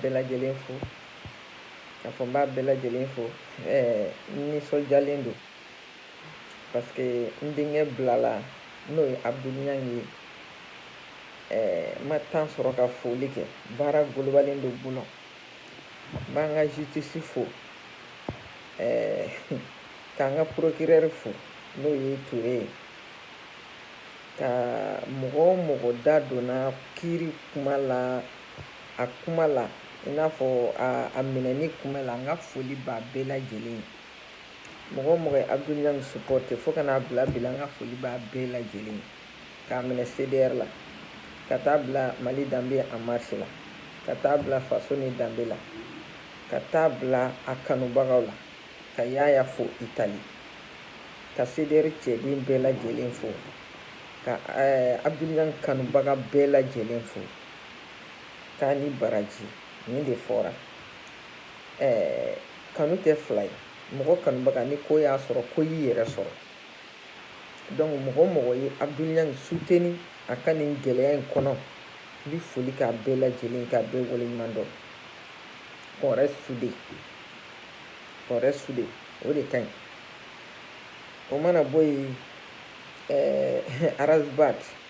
Bɛɛ lajɛlen fo k'a fɔ n b'a bɛɛ lajɛlen fo ɛɛ nisɔndiyalen don parce que n denkɛ bilala n'o ye abudul ɲangi ye ɛɛ n ma temps sɔrɔ ka foli kɛ baara golobalen don bolo n b'an ka justice fo ɛɛ k'an ka procureur fo n'o ye ture ye ka mɔgɔ o mɔgɔ da donna kiri kuma la a kuma la i n'a fɔ a minɛni kuma la n ka foli b'a bɛɛ lajɛlen ye mɔgɔ o mɔgɔ ye abudul ɲangi supɔte fo ka n'a bila bi la n ka foli b'a bɛɛ lajɛlen ye k'a minɛ cdr la ka taa bila mali danbe en marche la ka taa bila faso ni danbe la ka taa bila a kanubagaw la ka yaya fo itali ka cdr cɛden bɛɛ lajɛlen fo ka eh, abudul ɲangi kanubaga bɛɛ lajɛlen fo k'a ni baraji nin de fɔra ɛɛ kanu tɛ fila ye mɔgɔ kanubaga ni ko y'a sɔrɔ ko y'i yɛrɛ sɔrɔ donc mɔgɔ o mɔgɔ ye abudul ɲangi suteni a ka nin gɛlɛya in kɔnɔ n bɛ foli k'a bɛɛ lajɛlen k'a bɛɛ waleɲuman dɔn qu'on reste soudés qu'on reste soudés o de ka ɲi o mana bɔ yen ɛɛ arazbat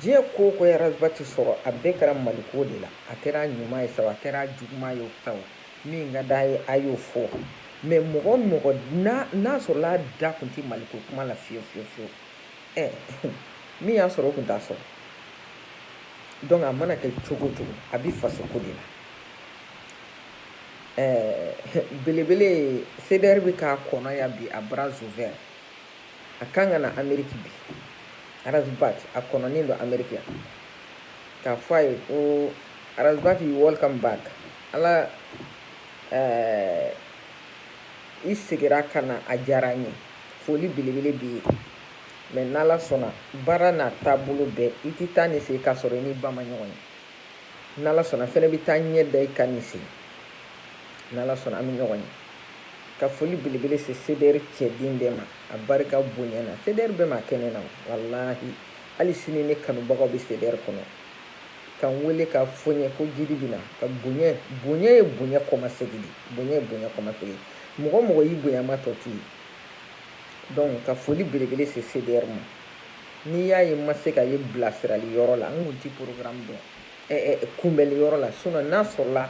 diɲɛ ko o ko ye arazbat sɔrɔ a bɛɛ kɛra maliko de la a kɛra ɲuman ye sa a kɛra juguman ye sa min ka d'a ye a y'o fɔ mais mɔgɔ o mɔgɔ n'a sɔrɔla a da tun tɛ maliko kuma la fiyewu fiyewu fiyewu ɛ min y'a sɔrɔ o tun t'a sɔrɔ donc a mana kɛ cogo o cogo a bɛ fasoko de la ɛɛ belebele cdr bɛ k'a kɔnɔ yan bi a bras ouverts a kan ka na ameriki bi arazbat a kɔnɔnen don ameriki yan k'a fɔ a ye ko arazbat you welcome back ala ɛɛ i segira ka na a diyara n ye foli belebele b'i ye mais n'ala sɔnna baara n'a taabolo bɛɛ i tɛ taa ni segin k'a sɔrɔ i ni ba ma ɲɔgɔn ye n'ala sɔnna fɛnɛ bɛ taa ɲɛ da i kan ni segin n'ala sɔnna an bɛ ɲɔgɔn ye ka foli belebele se cdr cɛden bɛɛ ma a barika bonyana cdr bɛɛ ma kɛnɛ na walahi hali sini ne kanubagaw bɛ cdr kɔnɔ ka n wele k'a fɔ n ye ko jiri bɛ na ka bonya bonya ye bonya kɔmasegi de bonya ye bonya kɔmasegi mɔgɔ o mɔgɔ y'i bonya ma tɔ to ye donc ka foli belebele se cdr ma n'i y'a ye n ma se ka ye bilasirali yɔrɔ la n kun ti programme dɔn eh, eh, kunbɛli yɔrɔ la sinon n'a sɔrɔla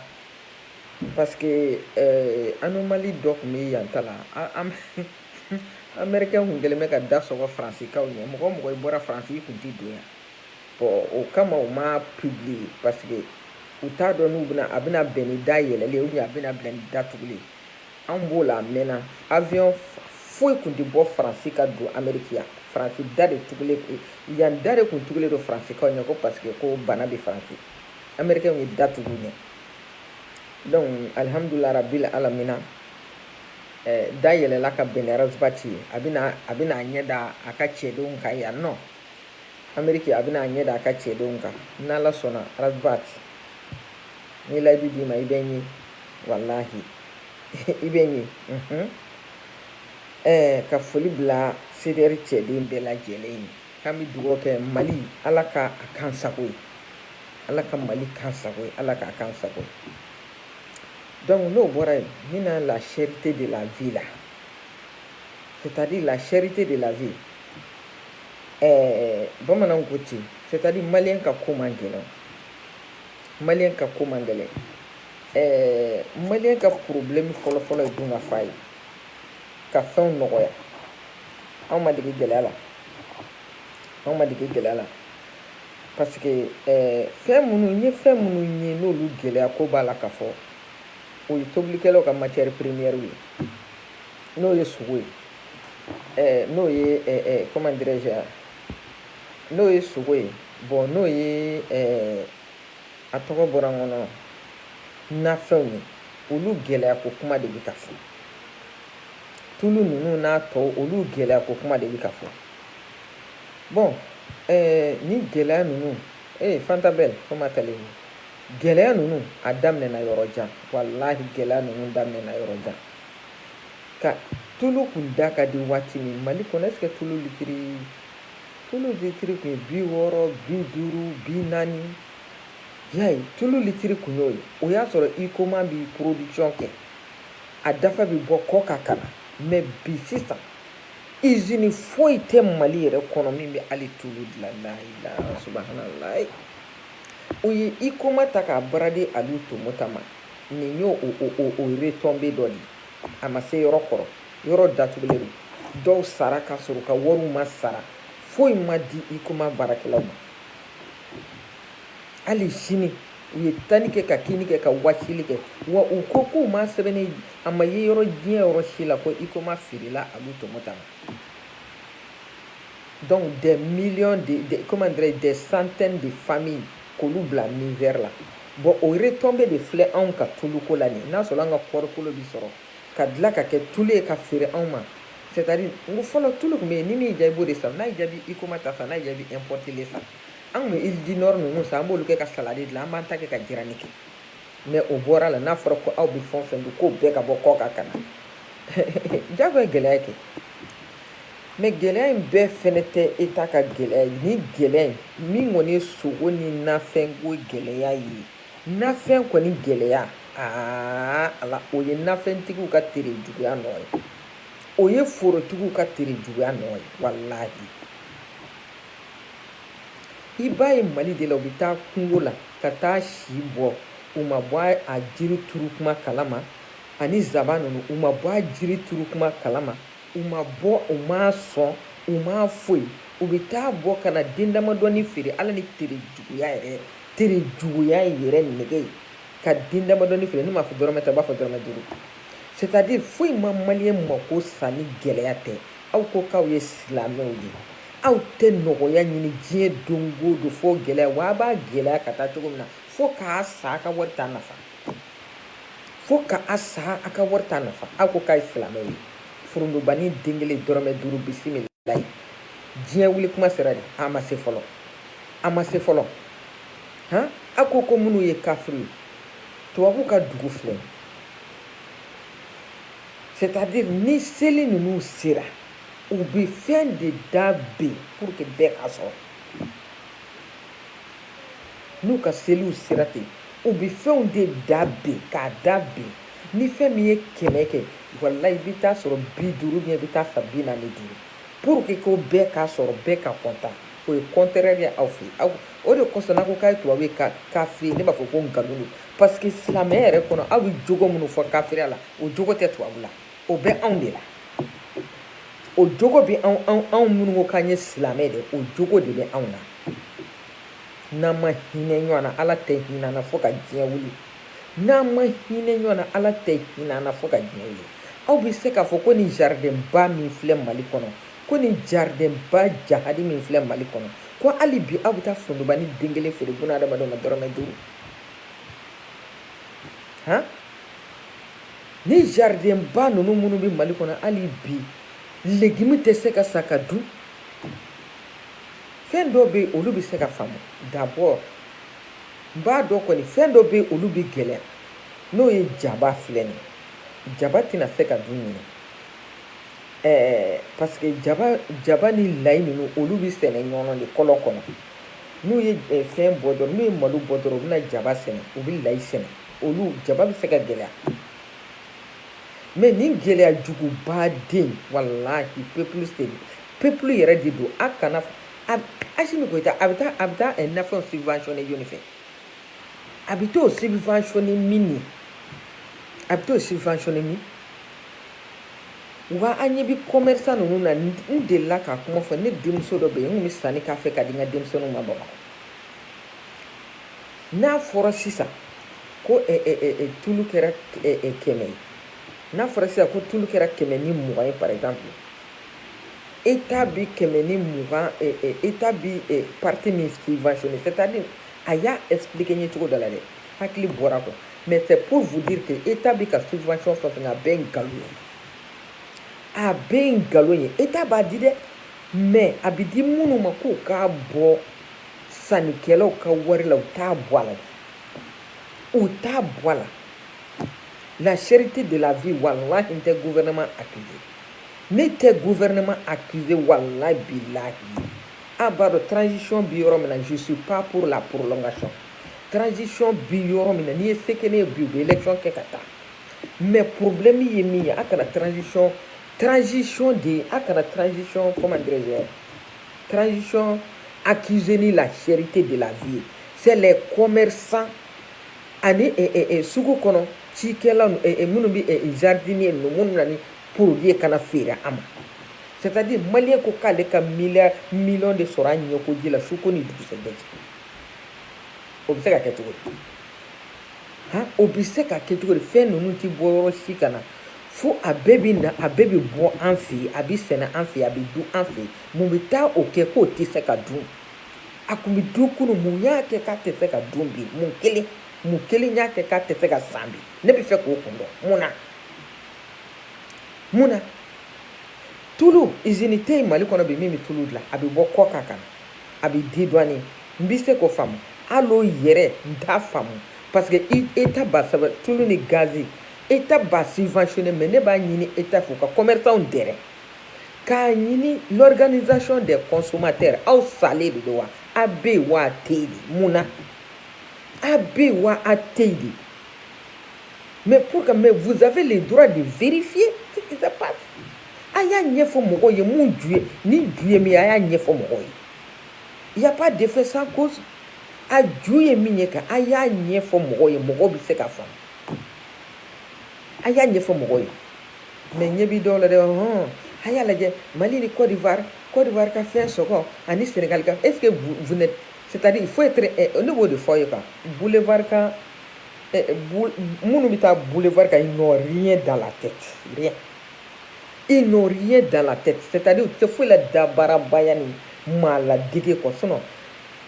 parce que eh, anomalie dɔ tun bɛ yan ta la américain kun kɛlen bɛ ka da sɔgɔ faransikaw ɲɛ mɔgɔ o mɔgɔ i bɔra faransi i kun ti don yan bon o kama u m'a publier parce que u t'a dɔn n'u bɛna a bɛna bɛn ni da yɛlɛlen ye ou bien a bɛna bɛn ni da tugulen ye An b'o la a mɛnna avion foyi kun tɛ bɔ Faransi ka don Ameriki yan. Faransi da de tugulen yan da de kun tugulen don Faransikaw ɲɛ ko parce que ko bana bɛ Faransi. Amerikɛnw ye da tugu ɲɛ. Donc alihamudulila rabil alamina eh, da yɛlɛla ka bɛn ni Ras Bath ye. A bɛna a bɛna a ɲɛ da a ka cɛdenw kan yan nɔ. Ameriki a bɛna a ɲɛ da a ka cɛdenw kan. N'Ala sɔnna Ras Bath. N ye layidu d'i ma i bɛ n ye. walahi i bɛ n ye mhm. eh, ka foli bila CDR cɛden bɛɛ lajɛlen ye k'an bɛ dugawu kɛ mali ala ka a k'an sago ye ala ka mali k'an sago ye ala k'a k'an sago ye donc n'o bɔra yen n bɛna la cherté de la vie la c'est à dire la cherté de la vie eh, bamananw ko ten c'est à dire maliyɛn ka ko man gɛlɛn maliyɛn ka ko man gɛlɛn maliyɛn ka problème fɔlɔfɔlɔ ye dun ka fa ye ka fɛnw nɔgɔya anw ma dege gɛlɛya la anw ma dege gɛlɛya la parce que fɛn minnu n ye fɛn minnu ye n'olu gɛlɛya ko b'a la ka fɔ o ye tobilikɛlaw ka matière première ye n'o ye sogo ye Eh, n'o ye eh, eh, comment dirais-je n'o ye sogo ye bon n'o ye A tɔgɔ bɔra n kɔnɔ nafɛnw ye olu gɛlɛya ko kuma de bɛ ka fɔ tulu ninnu n'a tɔw olu gɛlɛya ko kuma de bɛ ka fɔ bon eh, ni gɛlɛya ninnu ee eh, fanta belle comment allez-vous gɛlɛya ninnu a daminɛna yɔrɔ jan walahi gɛlɛya ninnu daminɛna yɔrɔ jan ka tulu kun da ka di waati min mali kɔnɔ est-ce que tulu litiri Tulu litiri kun ye bi wɔɔrɔ bi duuru bi naani y'a ye tulu litiri kun y'o ye o y'a sɔrɔ HUICOMA bi production kɛ a dafa bɛ bɔ kɔkan ka na mais bi sisan usine foyi tɛ Mali yɛrɛ kɔnɔ min bɛ hali tulu dilan la ilaha subahanallahi u ye HUICOMA ta k'a brader Aliu Tomota ma nin y'o o o o retombée dɔ de ye a ma se yɔrɔ kɔrɔ yɔrɔ datugulen don dɔw sara ka sɔrɔ ka wariw ma sara foyi ma di HUICOMA baarakɛlaw ma hali sini u ye tani kɛ ka kini kɛ ka wasili kɛ wa u ko k'u ma sɛbɛnni a ma ye yɔrɔ diɲɛ yɔrɔ si la ko HUICOMA feerela Alu Tomota ma donc des millions de, de comment dirais-je des centaines de familles k'olu bila misère la Bon o retombée de filɛ anw ka tuluko la nin n'a sɔrɔ an ka kɔɔrikolo bi sɔrɔ ka dilan ka kɛ tulu ye ka feere anw ma c'est à dire n ko fɔlɔ tulu tun bɛ yen ni min y'i diya i b'o de san n'a y'i diya i bɛ HUICOMA ta san n'a y'i diya i bɛ importé san an tun bɛ huile Dinor ninnu san an b'olu kɛ ka salade dilan an b'an ta kɛ ka jirani kɛ mais o bɔra la n'a fɔra ko aw bɛ fɛn o fɛn dun k'o bɛɛ ka bɔ kɔkan ka na jago ye gɛlɛya kɛ Mais gɛlɛya in bɛɛ fɛnɛ tɛ État ka gɛlɛya ye ni gɛlɛya min kɔni ye sogo ni nafɛnko gɛlɛya ye nafɛn kɔni gɛlɛya aa ala o ye nafɛntigiw ka tere juguya nɔ ye o ye forotigiw ka tere juguya nɔ ye walahi i b'a ye Mali de la u bɛ taa kungo la ka taa si bɔ u ma bɔ a jiri turu kuma kalama ani zaban ninnu u ma bɔ a jiri turu kuma kalama U ma bɔ u m'a sɔn u ma foyi u bɛ taa bɔ ka na den damadɔni feere ala ni tere juguya yɛrɛ tere juguya yɛrɛ nɛgɛ ye ka den damadɔni feere n'i m'a fɔ dɔrɔmɛ tan i b'a fɔ dɔrɔmɛ duuru c'est à dire foyi ma maliyɛn mako sa ni gɛlɛya tɛ aw ko k'aw ye silamɛw ye aw tɛ nɔgɔya ɲini diɲɛ don o don fo gɛlɛya wa a b'a gɛlɛya ka taa cogo min na fo k'a sa a ka wari t'a nafa fo ka a sa a ka wari t'a nafa a ko k'a ye silamɛ ye furundubani den kelen dɔrɔmɛ duuru bisimilayi diɲɛ wuli kuma sera de a ma se fɔlɔ a ma se fɔlɔ han a ko ko minnu ye kafiri ye tubabu ka dugu filɛ c'est à dire ni seli ninnu sera u bɛ fɛn de da bin pour que bɛɛ k'a sɔrɔ n'u ka seliw sera ten u bɛ fɛnw de da bin k'a da bin ni fɛn min ye kɛmɛ kɛ walayi i bɛ taa sɔrɔ bi duuru bien i bɛ taa san bi naani ni duuru pour que ko bɛɛ k'a sɔrɔ bɛɛ ka content o ye contraire de aw fɛ yen o de kosɔn n'a ko k'a ye tubabu ye kafiri ne b'a fɔ ko nkalon don parce que silamɛya yɛrɛ kɔnɔ aw bɛ jogo minnu fɔ kafiriya la o jogo tɛ tubabu la o bɛ anw de la o jogo bɛ anw anw minnu ko k'an ye silamɛ de o jogo de bɛ anw na n'an ma hinɛ ɲɔgɔn na ala tɛ hinɛ an na fo ka diɲɛ wuli n'an ma hinɛ ɲɔgɔn na ala tɛ hinɛ an na fo ka diɲɛ wuli aw bɛ se k'a fɔ ko nin jaridɛnba min filɛ mali kɔnɔ ko nin jaridɛnba jahadi min filɛ mali kɔnɔ ko hali bi aw bɛ taa forontobanin den kelen feere buna adamadenw ma dɔrɔmɛ duuru han ni jaridɛnba ninnu minnu bɛ mali kɔnɔ hali bi legimi tɛ se ka san ka dun fɛn dɔw bɛ yen olu bɛ se ka faamu d'abord n b'a dɔn kɔni fɛn dɔw bɛ yen olu bɛ gɛlɛya n'o ye jaba filɛ nin jaba tɛna se ka dun ɲinan parce que jaba jaba ni layi ninnu olu bɛ sɛnɛ ɲɔnɔ de kɔlɔn kɔnɔ n'u ye eh, fɛn bɔ dɔrɔn n'u ye malo bɔ dɔrɔn u bɛna jaba sɛnɛ u bɛ layi sɛnɛ olu jaba bɛ se ka gɛlɛya mais nin gɛlɛya juguba den walahi peuple peuple yɛrɛ de don a kana asimi goyita a bɛ taa a bɛ taa eh, nafɛnw subventionné jɔni fɛ a bɛ t'o subventionné min ye a bɛ t'o subventionné min wa an ɲɛ bɛ commerçant ninnu na n delila ka kuma fɔ ne denmuso dɔ bɛ yen n tun bɛ sanni k'a fɛ ka di n ka denmisɛnninw ma bamakɔ n'a fɔra sisan ko eh, eh, tulu kɛra kɛmɛ ye n'a fɔra sisan ko tulu kɛra kɛmɛ ni mugan ye par exemple Eta bi kɛmɛ ni mugan eta bi pati min sifayni sɛtadi a y'a esp ye cogo da la dɛ hakili bɔra kɔ mɛ tɛ pfuti ten e ta bi ka sifay fɛ a bɛ nkalon ye a bɛ nkalon ye e ta b'a di dɛ mɛ a bɛ di minnu ma ko k'a bɔ sanikɛlaw ka wari la u t'a bɔ a la u t'a bɔ a la laseri tɛ de la bi wala tɛ gfɛnɛma a tun ye Ne tɛ gouvernement accuser walayi bilahi a b'a dɔn transition bi yɔrɔ min na je suis pas pour la prolongation transition bi yɔrɔ min na n'i ye se kɛ ne ye bi u bɛ élection kɛ ka taa mais problème ye min ye a kana transition transition de ye a kana transition comment dirais-je transition accuser ni la cherté de la vie c'est les commerçants ani sugu kɔnɔ cikɛla minnu bɛ jardinier ninnu minnu na ni produit kana feere a ma c'est-à-dire malien ko k'ale ka miliya miliyɔn de sɔrɔ a ɲɛkoji la su ko ni dugusɛjɛ cɛ o bɛ se ka kɛ cogo di han o bɛ se ka kɛ cogo di fɛn ninnu tɛ bɔ yɔrɔ si ka na fo a bɛɛ bɛ na a bɛɛ bɛ bɔ an fɛ yen a bɛ sɛnɛ an fɛ yen a bɛ dun an fɛ yen mun bɛ taa o kɛ k'o tɛ se ka dun a tun bɛ dun kunun mun y'a kɛ k'a tɛ se ka dun bi mun kelen mun kelen y'a kɛ k'a tɛ se ka san bi ne bɛ fɛ k'o kun dɔn mun na. mun na tulu izini tɛ yen mali kɔnɔ bi min bɛ tulu dilan a bɛ bɔ kɔkan ka na a bɛ dédouané n bɛ se k'o faamu hali o yɛrɛ n t'a faamu parce que eta b'a sɛbɛn tulu ni gazi eta b'a subventionné mais ne b'a ɲini eta fɛ u ka commerçants dɛrɛ k'a ɲini l'organisation des consommateurs aw salen de don wa a bɛ yen wa a tɛ yen de mun na a bɛ yen wa a tɛ yen de Mais pourquoi mais vous avez le droit de vérifier ce qui se passe. A y'a ɲɛfɔ mɔgɔw ye mun ju ye ni ju ye min ye a y'a ɲɛfɔ mɔgɔw ye. Il y a pas d'effet sans cause. A ju ye min ye quoi a y'a ɲɛfɔ mɔgɔw ye mɔgɔw bɛ se k'a faamu. A y'a ɲɛfɔ mɔgɔw ye. Mais ɲɛ b'i dɔw la dɛ hɔn a y'a lajɛ Mali ni Côte d'Ivoire Côte d'Ivoire ka fɛn sɔngɔ ani Sénégal ka est-ce que vous, vous n'êtes c'est-à-dire il faut être eh, ne b'o de fɔ ye quoi boulevard kan minnu bɛ taa boulevard kan ils n'ont rien dans la tête rien ils n'ont rien dans la tête c'est-à-dire u tɛ foyi la dabaarabaya ni maa ladege kɔ sinon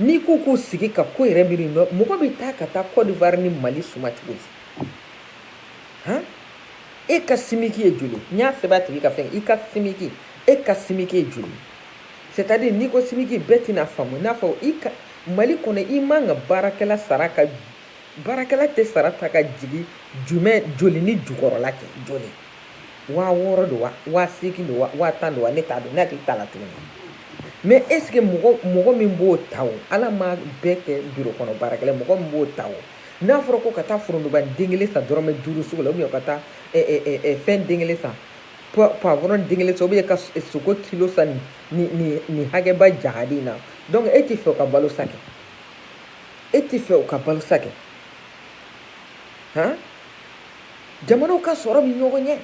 n'i k'u k'u sigi ka ko yɛrɛ miiri nɔ mɔgɔ bɛ taa ka taa Côte d'Ivoire ni Mali suma cogo di han e ka simiki ye joli n y'a sɛbɛn a tigi ka fɛn i ka simiki e ka simiki ye joli C'est-à-dire n'i ko simiki bɛɛ tɛna faamu n'a fɔ i ka mali kɔnɔ i man kan ka baarakɛla sara ka baarakɛla tɛ sara ta ka jigin jumɛn joli ni jukɔrɔla kɛ joli waa wɔɔrɔ don wa waa seegin don wa waa tan don wa ne t'a dɔn ne hakili t'a la tuguni mais est-ce que mɔgɔ mɔgɔ min b'o ta o ala ma bɛɛ kɛ biro kɔnɔ baarakɛla mɔgɔ min b'o ta o n'a fɔra ko ka taa forontoba den kelen san dɔrɔmɛ duuru sugu la ou bien ka taa fɛn den kelen san poivron den kelen san ou bien ka sogo kilo san nin nin nin hakɛba jahadi na donc e tɛ fɛ ka balo sa kɛ e tɛ fɛ ka balo sa kɛ han jamanaw ka sɔrɔ bɛ ɲɔgɔn ɲɛ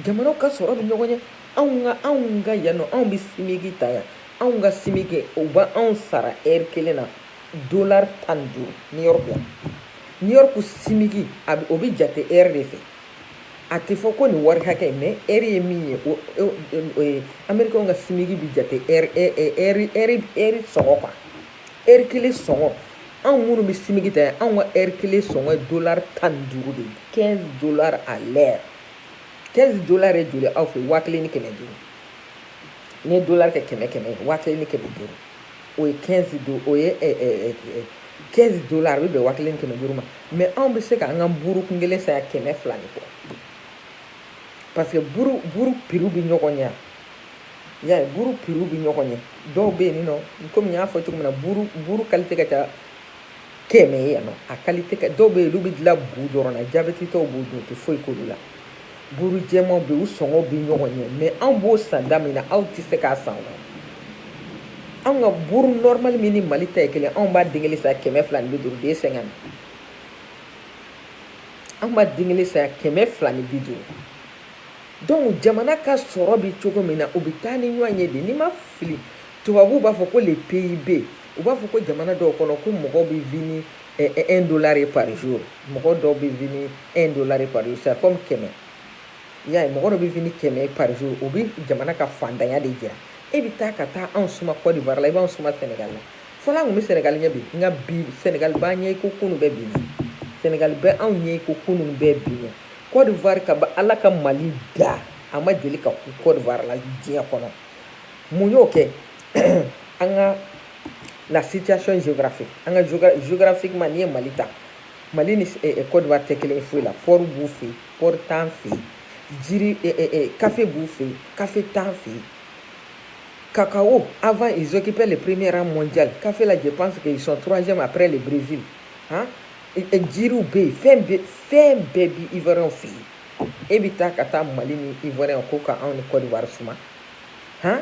jamanaw ka sɔrɔ bɛ ɲɔgɔn ɲɛ anw ka anw ka yan nɔ anw bɛ simiki ta yan anw ka simiki u bɛ anw sara ɛri kelen na dolari tan ni duuru niyɔrɔku yan niyɔrɔku simiki a bɛ o bɛ jate ɛri de fɛ a tɛ fɔ ko nin wari hakɛ mais eri ye min ye ameriki ka simiki bɛ jate eri sɔngɔ quoi eri kelen sɔngɔ anw minnu bɛ simiki ta anw ka eri kelen sɔngɔ dɔlari tan ni duuru de quinze dɔlari à l'heure quinze dɔlari ye joli aw fɛ waa kelen ni kɛmɛ duuru n'i ye dɔlari kɛ kɛmɛ ye waa kelen ni kɛmɛ duuru o ye 15 do o ye eh, eh, eh, 15 dollars a bɛ bɛn waa kelen kɛmɛ duuru ma mais anw bɛ se ka an ka buru kun kelen san yan kɛmɛ fila ni kɔ parce que buru buru piriw bɛ ɲɔgɔn ɲɛ y'a ye buru piriw bɛ ɲɔgɔn ɲɛ dɔw bɛ yen nɔ komi n y'a fɔ cogo min na buru buru kalite ka ca kɛmɛ ye yan nɔ a kalite ka dɔw bɛ yen olu bɛ dilan bu dɔrɔn na jabɛtitɔw b'o dun o tɛ foyi k'olu la buru jɛmanw bɛ yen u sɔngɔ bɛ ɲɔgɔn ɲɛ mais anw b'o san da min na aw tɛ se k'a san o la anw ka buru nɔrɔmali min ni mali ta ye kelen anw b'a den kelen san kɛmɛ fila ni bi duuru den sɛgɛn anw b'a den kelen san kɛmɛ fila ni bi duuru donc jamana ka sɔrɔ bɛ cogo min na o bɛ taa ni ɲɔgɔn ye de n'i ma fili tubabuw b'a fɔ ko le PIB U b'a fɔ ko jamana dɔw kɔnɔ ko mɔgɔw bɛ vit ni un dollar de par jour mɔgɔ dɔw bɛ vit ni un dollar de par jour c'est comme kɛmɛ y'a ye mɔgɔ dɔ bɛ vit ni kɛmɛ par jour o bɛ jamana ka faantanya de jira e bɛ taa ka taa anw suma cote d'ivoire la i b'anw suma sɛnɛgali la fɔlɔ an tun bɛ sɛnɛgali ɲɛ bi nka bi sɛnɛgali b'an ɲɛ i ko kunun bɛ bi sɛnɛgali bɛ anw ɲɛ i ko kunun bɛ bi ɲɛ cote d'ivoire kabini ala ka mali da a ma deli ka kun cote d'ivoire la diɲɛ kɔnɔ mun y'o kɛ an ka la situation géographique an ka géographiquement n'i ye mali ta mali ni cote d'ivoire tɛ kelen ye foyi la port b'u fɛ yen port t'an fɛ yen jiri kafe b'u fɛ yen kafe t'an fɛ yen cacao avant ils occupaient le premier rang mondial kafe la je pense qu'ils sont troisième après le brésil hein? jiriw bɛ yen fɛn bɛɛ fɛn bɛɛ bi ivoiriyɛnw fɛ yen e bɛ taa ka taa mali ni ivoiriyɛnw ko ka anw ni cote d'ivoire suma han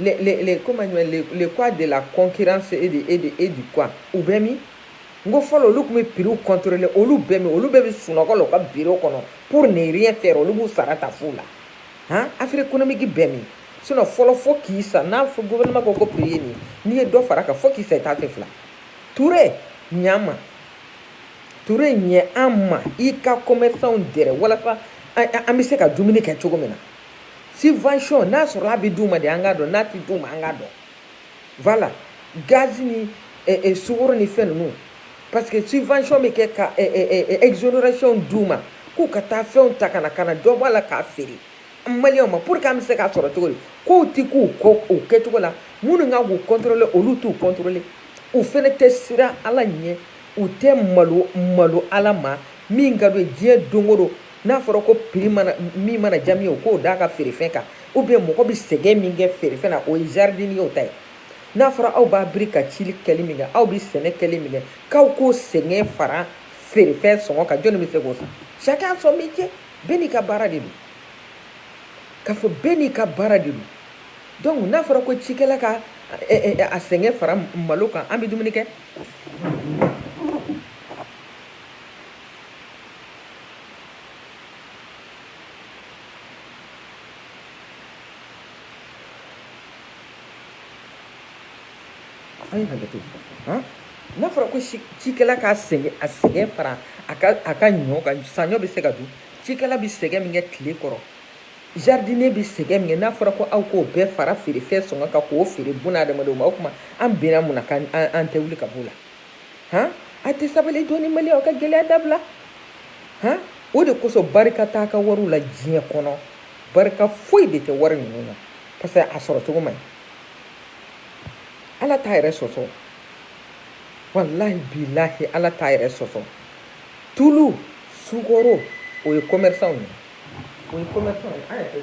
les, les, les, comment dire, les, les quoi de la concurrence et de, et de, et du quoi u bɛ min n ko fɔlɔ olu tun bɛ prix contrôler olu bɛ min olu bɛɛ bɛ sunɔgɔ la u ka biro kɔnɔ pour ne rien faire olu b'u sara ta fu la han affaire économique bɛ min sinon fɔlɔ fo k'i sa n'a fɔ gouvernement ko ko prix ye nin n'i ye dɔ fara kan fo k'i sa i t'a kɛ fila ture ɲ'an ma ture ɲɛ an ma i ka commerçantw dɛrɛ walasa an bɛ se ka dumuni kɛ cogo min na subvention n'a sɔrɔ a bɛ d'u ma de an k'a dɔn n'a tɛ d'u ma an k'a dɔn voilà gaz ni eh, eh, sukoro ni fɛn ninnu parce que subvention bɛ kɛ ka eh, eh, eh, eh exonération d'u ma k'u ka taa fɛnw ta ka na ka na dɔ bɔ a la k'a feere maliyɛnw ma pour que an bɛ se k'a sɔrɔ cogo di kow tɛ ka kɛ u kɛcogo la minnu kan k'u contrôler olu t'u contrôler u fɛnɛ tɛ siran ala ɲɛ u tɛ malo malo ala ma min ka d'u ye diɲɛ don o don n'a fɔra ko prix min mana diya min ye o k'o d'a ka feerefɛn kan ou bien mɔgɔ bɛ sɛgɛn min kɛ feerefɛn na o ye jardiniyew ta ye n'a fɔra aw b'a biri ka cili kɛli min kɛ aw bɛ sɛnɛ kɛli min kɛ k'aw k'o sɛgɛn fara feerefɛn sɔngɔ kan jɔnni bɛ se k'o san chacun son métier bɛɛ n'i ka baara de don k'a fɔ bɛɛ n'i ka baara de don donc n'a fɔra ko cikɛla ka a sɛgɛn fara malo kan an bɛ dumuni kɛ A ye hakɛ to han n'a fɔra ko si cikɛla k'a sɛgɛn a sɛgɛn fara a ka a ka ɲɔ kan saɲɔ bɛ se ka dun cikɛla bɛ sɛgɛn min kɛ tile kɔrɔ jardinier bɛ sɛgɛn min kɛ n'a fɔra ko aw k'o bɛɛ fara feerefɛn sɔngɔ kan k'o feere buna adamadenw ma o tuma an bɛnna mun na k'an an tɛ wuli ka b'o la han a tɛ sabali dɔɔni mali aw ka gɛlɛya dabila han o de kosɔn barika t'a ka wariw la diɲɛ kɔnɔ barika foyi de tɛ wari ninnu na parce que a sɔrɔ cogo man ɲi ala t'a yɛrɛ sɔsɔ walahi bilahi ala t'a yɛrɛ sɔsɔ tulu sukaro o ye commerçant ye o ye commerçant ye an yɛrɛ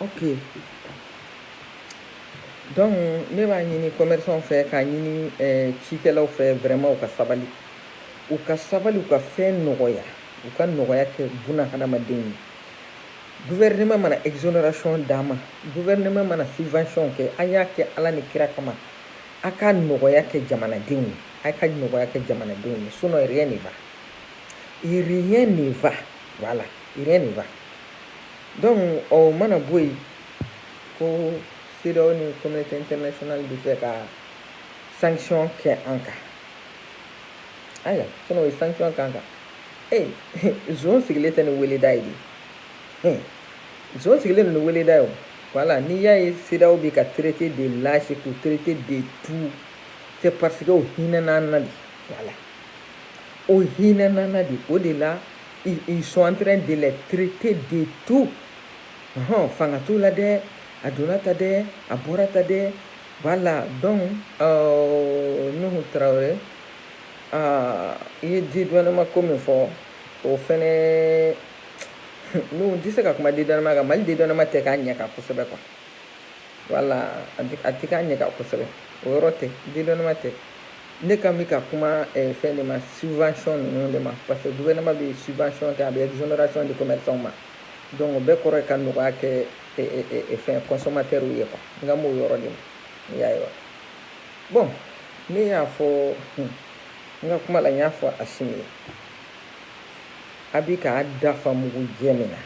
ok donc ne b'a ɲini commerçant fɛ k'a ɲini eh, cikɛlaw fɛ vraiment u ka sabali u ka sabali u ka fɛn nɔgɔya u ka nɔgɔya kɛ buna hadamaden ye gouvernement mana exonération d'a ma gouvernement mana subvention kɛ a y'a kɛ ala ni kira kama a ka nɔgɔya kɛ jamanadenw ye a ka nɔgɔya kɛ jamanadenw ye sinon rien ne va rien ne va voilà rien ne va donc o mana bɔ yen ko CEDEAO ni communauté internationale bɛ fɛ ka sanction kɛ an kan ayiwa sinon o ye sanction k'an kan ee zon sigilen tɛ ni weleda ye de zon sigilen ni weleda ye o voilà n'i y'a ye CEDEAO bɛ ka traiter de lâche k'u traiter de tout c'est parce que o hinɛna an na de voilà o hinɛna an na de o de la ils sont en train de les traiter de tout hɔn fanga t'u la dɛ a donna tan dɛ a bɔra tan dɛ voilà donc euh, nuhu tarawele aa i ye dédouanement ko min fɔ o fɛnɛ nuhu n tɛ se ka kuma dédouanement kan mali dédouanement tɛ k'a ɲɛ kan kosɛbɛ quoi voilà a tɛ k'a ɲɛ kan kosɛbɛ o yɔrɔ tɛ dédouanement tɛ ne kan bɛ ka kuma eh, fɛn de ma subvention ninnu de ma parce que gouvernement bɛ subvention kɛ a bɛ exonération di commerçants ma donc o bɛɛ kɔrɔ ye ka nɔgɔya kɛ eh, eh, fɛn consommateurs ye quoi n kan b'o yɔrɔ de ma i y'a ye wa Bon ne y'a fɔ n ka kuma la n y'a fɔ Asimi ye a bɛ k'a dafa mugu jɛ min na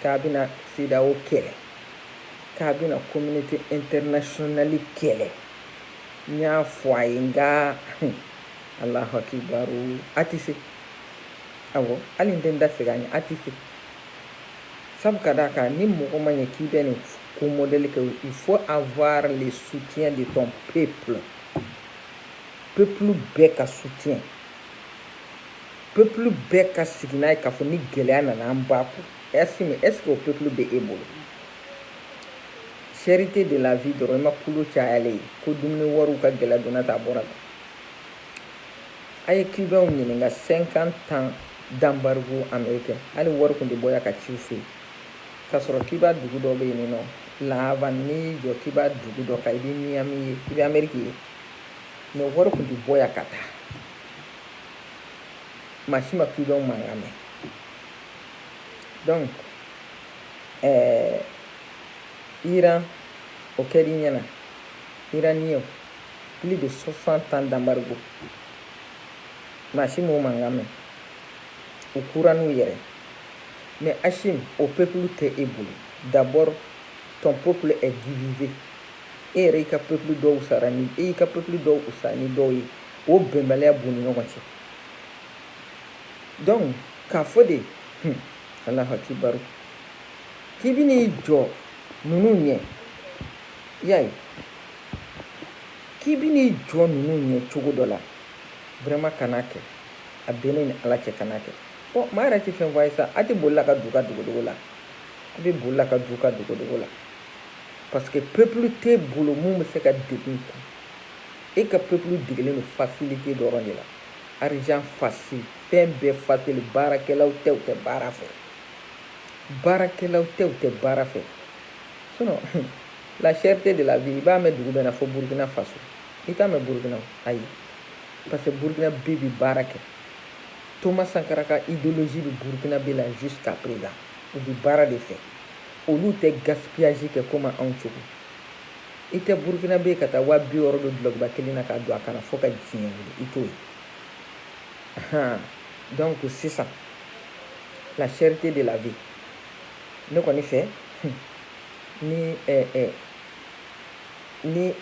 k'a bɛna CEDEAO kɛlɛ k'a bɛna communauté internationale kɛlɛ n y'a fɔ a ye nka alahu akibaru a tɛ se awɔ hali n tɛ n da segin a ɲɛ a tɛ se Sabu ka d'a kan ni mɔgɔ ma ɲɛ k'i bɛ nin ko modèle kɛ il faut avoir le soutien de ton peuple peuple bɛɛ ka soutien peuple bɛɛ ka sigi n'a ye k'a fɔ ni gɛlɛya nana an b'a kun est ce que est ce que o peuple bɛ e bolo cherté de la vie dɔrɔn i ma kulo cayalen ye ko dumuni wariw ka gɛlɛn donna ta a bɔra ta A ye Cubains ɲininka 50 ans d'embargo américain hali wari tun tɛ bɔ yan ka ci u fɛ yen, k'a sɔrɔ Cuba dugu dɔ bɛ yen nɔ La Havane n'i y'i jɔ Cuba dugu dɔ kan i bɛ Miami ye, i bɛ Amérique ye mais wari tun tɛ bɔ yan ka taa, maa si ma Cubains mankan mɛn donc ɛɛ Iran o kɛr'i ɲɛna Iraniens plus de 60 ans d'embargo maa si m'o mankan mɛn u kura n'u yɛrɛ mais Asimi o peuple tɛ e bolo d'abord ton peuple est divisé e yɛrɛ y'i ka peuple dɔw wusaya ni e y'i ka peuple dɔw wusaya ni dɔw ye o bɛnbaliya b'u ni ɲɔgɔn cɛ donc k'a fɔ de hmm, alahu akibaru k'i bɛn'i jɔ ninnu ɲɛ y'a ye k'i bɛ n'i jɔ ninnu ɲɛ cogo dɔ la vraiment kan'a kɛ a bɛ ne ni ala cɛ kan'a kɛ bon maa yɛrɛ tɛ fɛn fɔ a ye sa a tɛ boli la ka don ka dogodogo la a bɛ boli la ka don ka dogodogo la parce que peuple t'e bolo min bɛ se ka degun kun e ka peuple degelen don facilité dɔrɔn de la argent facile fɛn bɛɛ facile baarakɛlaw tɛ u tɛ baara fɛ baarakɛlaw tɛ u tɛ baara fɛ sinon la cherté de la vie i b'a mɛn dugu bɛɛ na fo burukina faso i t'a mɛn burukina ayi parce que burukinabɛ bi baara kɛ thomas sankara ka idéologie bi burukinabɛ la jusqu'à présent u bi baara de fɛ olu tɛ gaspillage kɛ komi anw cogo i tɛ burukinabɛ ka taa waa bi wɔɔrɔ don dulɔkiba kelen na k'a don a kan na fo ka diɲɛ wuli i t'o ye donc sisan la cherté de la vie ne kɔni fɛ ni ni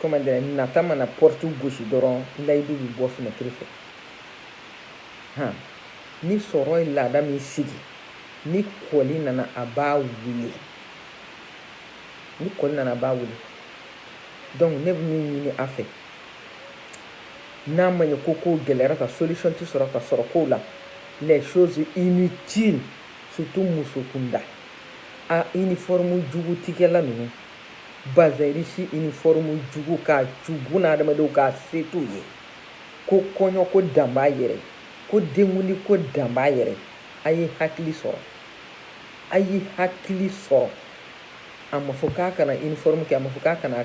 comment dire nata mana porte gosi dɔrɔn layidu bɛ bɔ fenêtre fɛ han ni sɔrɔ ye laada min sigi ni kɔli nana a b'a wuli ni kɔli nana a b'a wuli donc ne bɛ min ɲini a fɛ n'a ma ɲɛ ko kow gɛlɛyara ka solution tɛ sɔrɔ ka sɔrɔ kow la les choses inutiles surtout musokunda a uniforme jugu tigɛla ninnu bazin riche uniforme jugu ka jugu na adamadenw k'a se t'u ye ko kɔɲɔ ko dan b'a yɛrɛ ko denkundi ko dan b'a yɛrɛ a ye hakili sɔrɔ a ye hakili sɔrɔ a ma fɔ k'a kana uniforme kɛ a ma fɔ k'a kana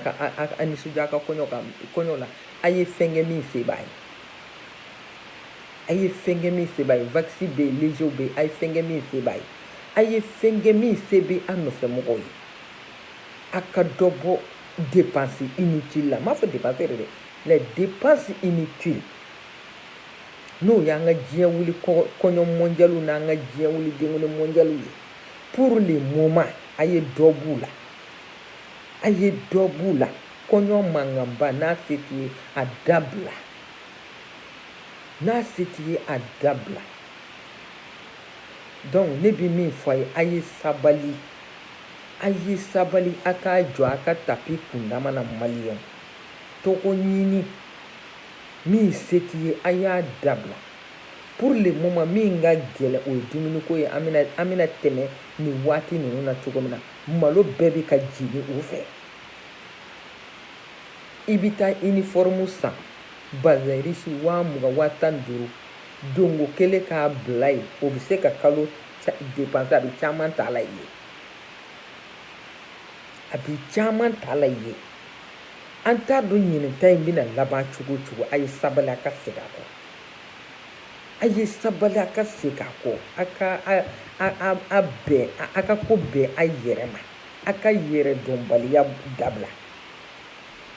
a nisɔndiya a ka kɔɲɔ ka kɔɲɔ la a ye fɛn kɛ min se b'a ye A ye fɛn kɛ min se b'a ye wax bɛ yen lezew bɛ yen a ye fɛn kɛ min se b'a ye a ye fɛn kɛ min se bɛ an nɔfɛmɔgɔw ye a ka dɔ bɔ dépense inutile la n m'a fɔ dépense yɛrɛ dɛ les dépenses inutiles n'o y'an ka diɲɛ wuli kɔɲɔ mɔndiyaliw n'an ka diɲɛ wuli denkundi mɔndiyaliw ye pour le moment a ye dɔ b'u la a ye dɔ b'u la kɔɲɔ mankanba n'a se t'i ye a dabila n'a se t'i ye a dabila donc ne bɛ min fɔ a ye a ye sabali a ye sabali a k'a jɔ a ka tapi kundama na maliyɛn tɔgɔɲini min se t'i ye a y'a dabila pour le moment min ka gɛlɛn o ye dumuniko ye an bɛna an bɛna tɛmɛ nin waati ninnu na cogo min na malo bɛɛ bɛ ka jigin o fɛ i bɛ taa uniforme san bazin riche waa mugan waa tan ni duuru donko kelen k'a bila yen o bɛ se ka kalo dépense a bɛ caman ta la ye a bɛ caman ta la ye an t'a dɔn ɲinan ta in bɛna laban cogo cogo a ye sabali a ka segin a kɔ a ye sabali a ka segin a kɔ a ka a bɛn a ka ko bɛn a yɛrɛ ma a ka yɛrɛdɔnbaliya dabila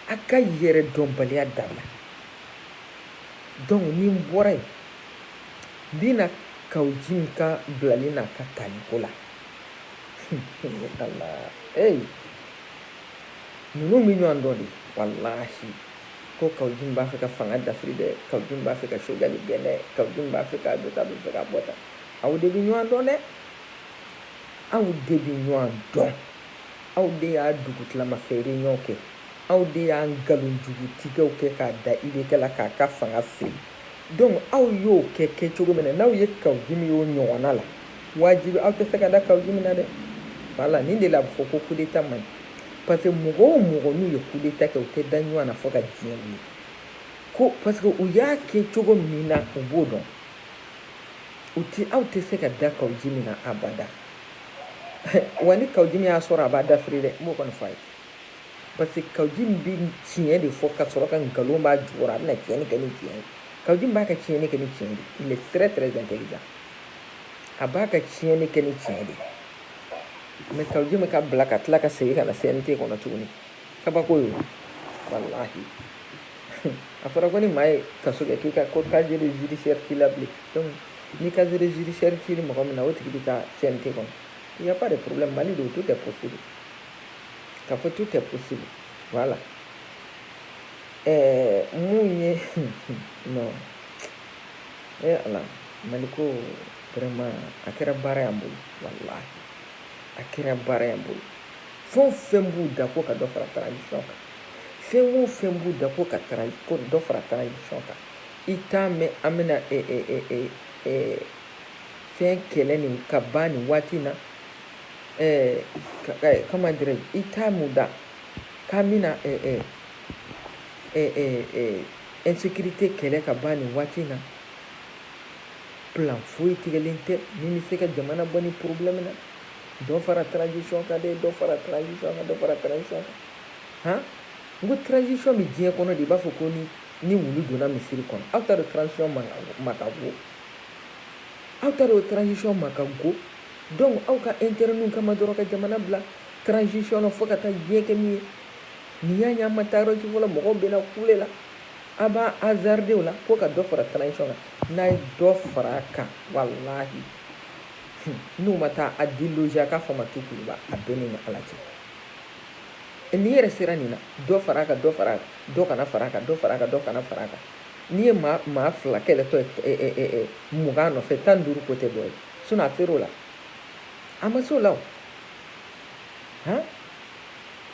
a ka yɛrɛdɔnbaliya dabila donc ni n bɔra yen n bɛ na Kaou Djim ka bilali n'a ka taliko la eyi ninnu bɛ ɲɔgɔn dɔn de walahi ko Kaou Djim b'a fɛ ka fanga dafiri dɛ Kaou Djim b'a fɛ ka Choguel gɛn dɛ Kaou Djim b'a fɛ ka dɔ ta bɛ fɛ ka bɔ tan aw de bɛ ɲɔgɔn dɔn dɛ aw de bɛ ɲɔgɔn dɔn aw de y'a dugutilama fɛ réunion kɛ aw de y'a nkalonjugutigɛw kɛ k'a da IBK la k'a ka fanga firi donc aw y'o kɛ kɛ cogo min na n'aw ye Kaou Djim y'o ɲɔgɔnna la wajibi aw tɛ se ka da Kaou Djim na dɛ voilà nin de la a bɛ fɔ ko coup d'état man ɲi parce que mɔgɔ o mɔgɔ n'u ye coup d'état kɛ u tɛ da ɲɔgɔn na fo ka diɲɛ wuli ko parce que u y'a kɛ cogo min na u b'o dɔn u ti aw tɛ se ka da Kaou Djim na abada wa ni Kaou Djim y'a sɔrɔ a b'a dafiri dɛ n b'o kɔni fɔ a ye parce que Kaou Djim bɛ tiɲɛ de fɔ ka sɔrɔ ka nkalon b'a jukɔrɔ a bɛna tiɲɛni kɛ ni tiɲɛ ye Kaou Djim b'a ka tiɲɛni kɛ ni tiɲɛ de il est très très intelligent a b'a ka tiɲɛni kɛ ni tiɲɛ de mais Kaou Djim ka bila ka tila ka segin ka na CNT kɔnɔ tuguni kabako ye walahi a fɔra ko ni maa ye kaso kɛ k'i ka ko casier judiciaire t'i la bilen donc Ni casier judiciaire t'i ni mɔgɔ min na o tigi bɛ taa CNT kɔnɔ il y a pas de problème Mali don tout est possible k'a fɔ tout est possible voilà ɛɛ mun ye non ee Ala Mali ko vraiment a kɛra baara y'an bolo walahi a kɛra baara y'an bolo fɛn o fɛn b'u da ko ka dɔ fara transition kan fɛn o fɛn b'u da ko ka dɔ fara transition kan i t'a mɛn an bɛna e, e, e, e, e, fɛn kɛlɛ nin ka ban nin waati in na eh, ka, eh, comment dirais-je i t'a mɛn u da k'an bɛna eh, eh, eh, eh, eh, insécurité kɛlɛ ka ban nin waati in na plan foyi tigɛlen tɛ min bɛ se ka jamana bɔ nin problème na dɔ fara transition kan dɛ dɔ fara transition kan dɔ fara transition kan han n ko transition bɛ diɲɛ kɔnɔ de i b'a fɔ ko ni ni wulu donna misiri kɔnɔ aw t'a dɔn transition ma ka go aw t'a dɔn transition ma ka go donc aw ka intérêt kama dɔrɔn ka jamana bila transition na fo ka taa diɲɛ kɛ min ye nin y'a ye an ma taa yɔrɔ si fɔlɔ mɔgɔw bɛna kule la a b'a hasarder o la ko ka dɔ fara transition kan n'a ye dɔ fara a kan walahi n'u ma taa a déloger a k'a fɔ ma tu Kuluba a bɛɛ ni Ala cɛ n'i yɛrɛ sera nin na dɔ fara a kan dɔ fara a kan dɔ kana fara a kan dɔ fara a kan dɔ kana fara a kan n'i ye maa fila kɛlɛtɔ ye mugan nɔfɛ tan ni duuru ko tɛ dɔ ye sinon a ser'o la a ma se o la o han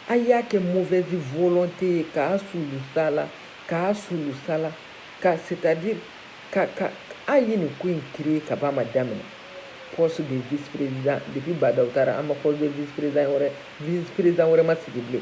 a y'a kɛ mauvaise volonté ye k'a sulusa la k'a sulusa la ka c'est à dire ka ka a ye nin ko in créer ka b'a ma daminɛ poste de vice président depuis Ba Ndaw taara an ma poste de vice président wɛrɛ vice président wɛrɛ ma sigi bilen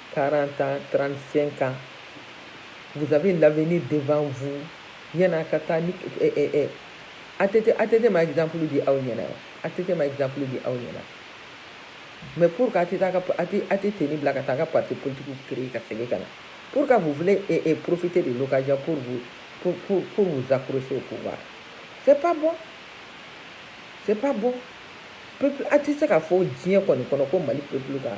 40 35 ans vous avez l'avenir devant vous yani a ka taa ni eh, eh, eh. ATT, ATT ma exemple di aw ɲɛna ATT ma exemple di aw ɲɛna mais pour que ATT ka tenue bila ka taa ka parti politique créer ka segin ka na pour que vous voulez eh, eh, profiter de l'occasion pour vous pour, pour, pour vous accrocher au pouvoir c'est pas bon c'est pas bon peuple a tɛ se k'a fɔ diɲɛ kɔni kɔnɔ ko Mali peuple ka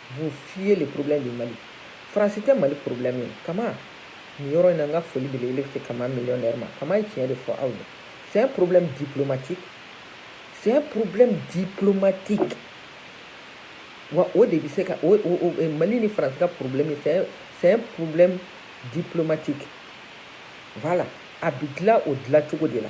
Vous fuyez le problème du Mali. France tɛ Mali problème ye. Kama nin yɔrɔ in na n ka foli belebele bɛ se Kama millionnaire ma. Kama ye tiɲɛ de fɔ aw ye. C'est un problème diplomatique. C'est un problème diplomatique. Wa o de bɛ se ka o o o Mali ni France ka problème ye. C'est un c'est un problème diplomatique. Voilà. A bɛ dilan o dilan cogo de la.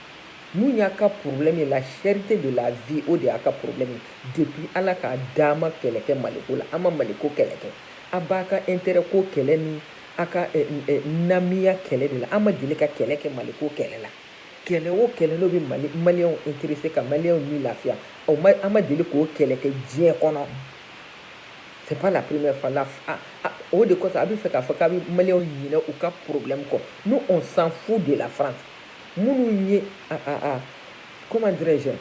Min y'a ka problème ye la cherté de la vie o de y'a ka problème ye depuis Ala k'an da an ma kɛlɛ kɛ Maliko la an ma Maliko kɛlɛ kɛ a b'a ka intérêt ko kɛlɛ ni a ka eh, eh, namiya kɛlɛ de la an ma deli ka kɛlɛ kɛ Maliko kɛlɛ la kɛlɛ o kɛlɛ n'o bɛ Mali maliyɛnw intéressé ka maliyɛnw ni lafiya o ma an ma deli k'o kɛlɛ kɛ diɲɛ kɔnɔ c'est pas la première fois la a, a, o de kosɔn a b'a fɛ k'a fɔ k'a bɛ maliyɛnw ɲinɛ u ka problème kɔ nous on s'en fout de la France minnu ye comment dirais-je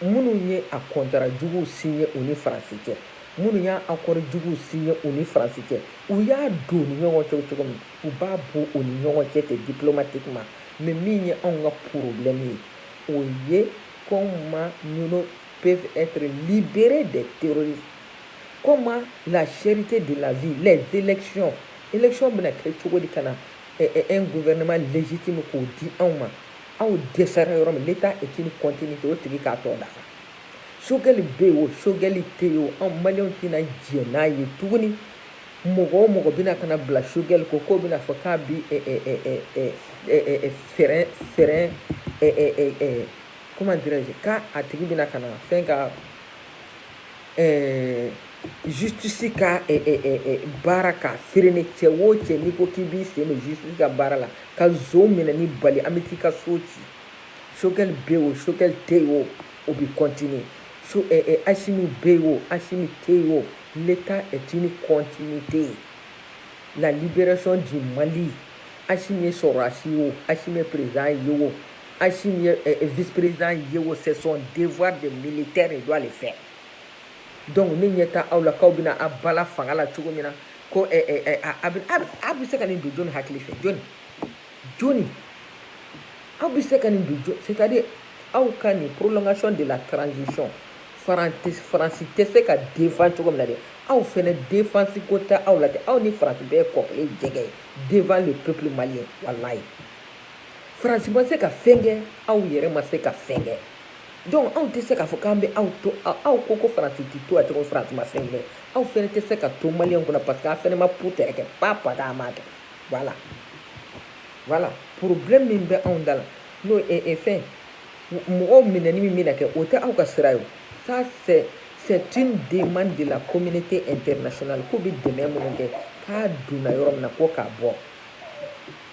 minnu ye a contrat juguw signé u ni France cɛ minnu y'a accord juguw signé u ni France cɛ u y'a don u ni ɲɔgɔn cɛ cogo min u b'a bɔ u ni ɲɔgɔn cɛ ten diplomatiquement mais min ye anw ka problème ye o ye comment nous peuvent être libérés des terroristes comment la cherté de la vie les élections élections bɛna kɛ cogo di ka na un gouvernement légitime k'o di anw ma aw dɛsɛra yɔrɔ min l'État est une continuité o tigi k'a tɔ dafa Choguel bɛ yen o Choguel tɛ yen o anw maliyɛnw tɛna jɛn n'a ye tuguni mɔgɔ o mɔgɔ bɛna ka na bila Choguel ko k'o bɛna fɔ k'a bi fɛɛrɛ fɛɛrɛ comment dirais-je k'a a tigi bɛna ka na fɛn ka jitutisi ka baara ka feereere ni cɛ wo cɛ ni ko k'i b'i sen ji ka baara la ka minɛ ni bali an bɛ taa i ka so ci sokɛ bɛ o sokɛli tɛ yen o o bɛ cot ayisi min bɛ yen o asi tɛ yen o ne taa at ni cot tɛ yen nka' bɛson di mali asi ye sɔrɔ asi o asi perez ye o Asimi ye eh, eh, vice-président ye wo c'est son devoir de militaire il doit le faire donc ne ɲɛ t'aw la k'aw bɛna a bala fanga la cogo min na ko eh, eh, eh, a bɛ a bɛ se ka nin don jɔni hakili fɛ jɔni jɔni aw bɛ se ka nin don jɔni c'est à dire aw ka nin prolongation de la transition faransi faransi tɛ se ka défendre cogo min na dɛ aw fɛnɛ défense ko tɛ aw la dɛ aw ni faransi bɛɛ kɔkɔlen jɛgɛ ye devant le peuple malien walayi faransi ma se ka fɛn kɛ aw yɛrɛ ma se ka fɛn kɛ donc anw tɛ se k'a fɔ k'an bɛ aw to aw ko ko faransi tɛ to a cogo faransi ma fɛn kɛ aw fɛnɛ tɛ se ka to maliyɛnw kunna parce que aw fɛnɛ ma putɛrɛ kɛ pa pa k'a ma kɛ voilà voilà problème min bɛ anw da la n'o ye e fɛn mɔgɔw minɛni min bɛna kɛ o tɛ aw ka sira ye o ça c'est c'est une demande de la communauté internationale k'u bɛ dɛmɛ minnu kɛ k'a donna yɔrɔ min na ko k'a bɔ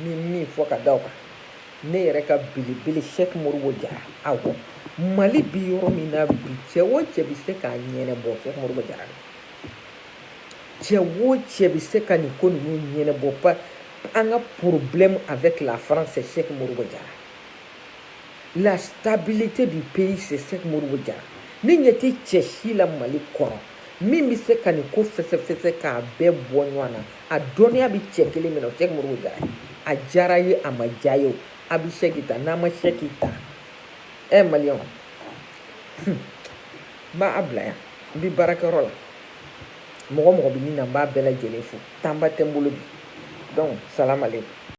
n bɛ min fɔ ka da o kan ne yɛrɛ ka belebele sɛk modibo jara awɔ mali bi yɔrɔ min na bi cɛ o cɛ bɛ se k'a ɲɛnɛbɔ sɛk modibo jara cɛ o cɛ bɛ se ka nin ko ninnu ɲɛnɛbɔ pa an ka problème avec la france c'est sɛk modibo jara la stabilité du pays c'est sɛk modibo jara ne ɲɛ tɛ cɛ si la mali kɔnɔ min bɛ se ka nin ko fɛsɛfɛsɛ k'a bɛɛ bɔ ɲɔgɔn na a dɔnniya bɛ cɛ kelen min na o sɛk modibo jara ye a diyara ye a ma diya ye o a bɛ sɛki ta n'a ma sɛki ta ɛ maliyɛnw n b'a bila yan n bɛ baarakɛyɔrɔ la mɔgɔ mɔgɔ bɛ nin na n b'a bɛɛ lajɛlen fo tanba tɛ n bolo bi donc salamalekum